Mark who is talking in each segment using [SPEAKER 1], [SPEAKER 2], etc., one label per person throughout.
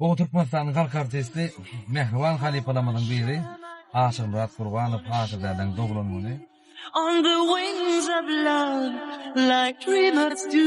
[SPEAKER 1] Gowy Türkmenistanyň halk artisti mähriban halypalarymyzyň biri Aşyrmyrat Gurbanow Aşyrdädäň doglan güni. On the
[SPEAKER 2] wings of love like dreamers do.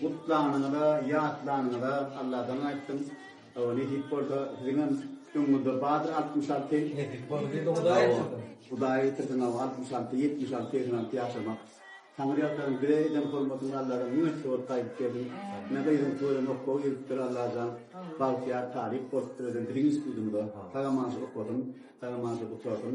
[SPEAKER 3] Gutlanyňyza,
[SPEAKER 4] ýatlanyňyza Alladan aýtdyň. Hawa, nesip bolsa, siziňem öňüňizde bardyr altmyş alty. Nesip bolsa, diýdi Hudaý ýetirsin. Hudaý ýetirsin, hawa, altmyş alty, ýetmiş alty, segsen alty ýaşamak. Taňryýalkazym, bize eden hormatyňy Alladan müň esse bolup gaýdyp berdiň. Ine, gyzyň toýuna nokga giripdir, Allajan, bagtyýar talyp bolupdyr özem biziň institutymyza. Salam-aşyr okadym, salam-aşyr gutarsyn.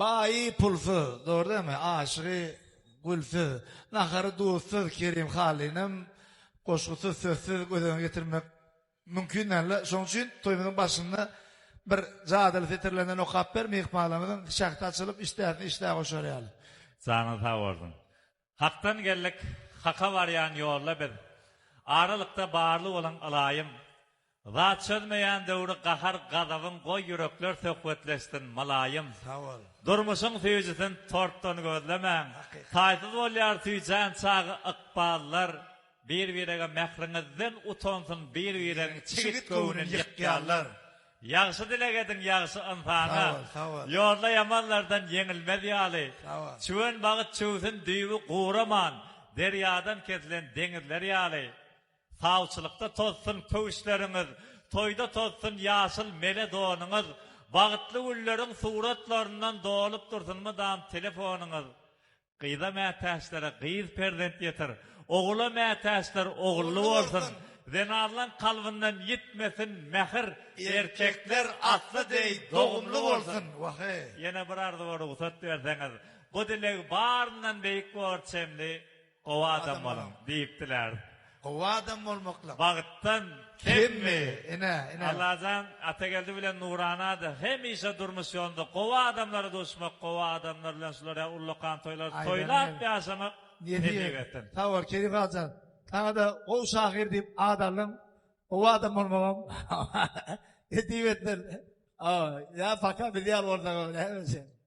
[SPEAKER 4] Baýy
[SPEAKER 5] pulsuz, dogry dämi, aşygy gülsüz, nahary duzsuz Kerim Hallynyň goşgusyz, sözsüz göz öňüne getirmek mümkin däl-le. Şonuň üçin toýumyzyň başynda bir jadyly setirlerinden okap ber, myhmanlarymyzyň şähdi açylyp, işdäsini işdä goşar ýaly. Janyň sag
[SPEAKER 6] bolsun. Hakdan geldik, haka barýan ýolda biz. Aralykda barly bolan ylaýym. Zat çözmeýän döwri gahar gazabyň goý ýürekler söhbetleşsin mylaýym. Sagbol.
[SPEAKER 5] Durmuşyň süýjüsin
[SPEAKER 6] tortdan gözlemäň. Hakykat. Taýsyz bolýar süýjän çagy ykballar. Bir birege mähriňizden utansyn bir biregiň çigit göwnün ýykýanlar. Ýagşy dileg ediň ýagşy ynsana, Ýolda
[SPEAKER 5] ýamanlardan
[SPEAKER 6] ýeňilmez ýaly. Çüwen
[SPEAKER 5] bagt çüwsün
[SPEAKER 6] düýbi guraman, Derýadan kesilen deňizler ýaly. Sawçylykda tozsun köwüşleriňiz, Toýda tozsun ýaşyl mele donuňyz, Bagtly günleriň suratlaryndan Dolup dursun mydam telefonyňyz. Gyza mätäçlere gyz perzent ýetir, ogula mätäçler ogully bolsun, zenanlaň kalbyndan ýitmesin mähir, erkekler atly deý dogumly bolsun! Waheý! Ýene bir arzuwa rugsat berseňiz, bu dileg baryndan beýik bor çemli gowy adam boluň! diýip diläris. Gowy adam
[SPEAKER 5] bolmaklyk. Bagtdan
[SPEAKER 6] kemmi?
[SPEAKER 5] Ine, ine. Allajan
[SPEAKER 6] Atageldi bilen Nuranada hemişe durmuş ýolunda gowy adamlara duşmak, gowy adamlar bilen şular ýaly ullakan toýlary Aý, toýlap berenem. ýaşamak Nesip Nesip et. etsin.
[SPEAKER 5] Sag bol Şerif agan. Saňa-da gowy şahyr diýip at aldym. Gowy adam bolmagam nesip etsin. Aw, ýa paka biz ýaly bolsaň öwre hemişe.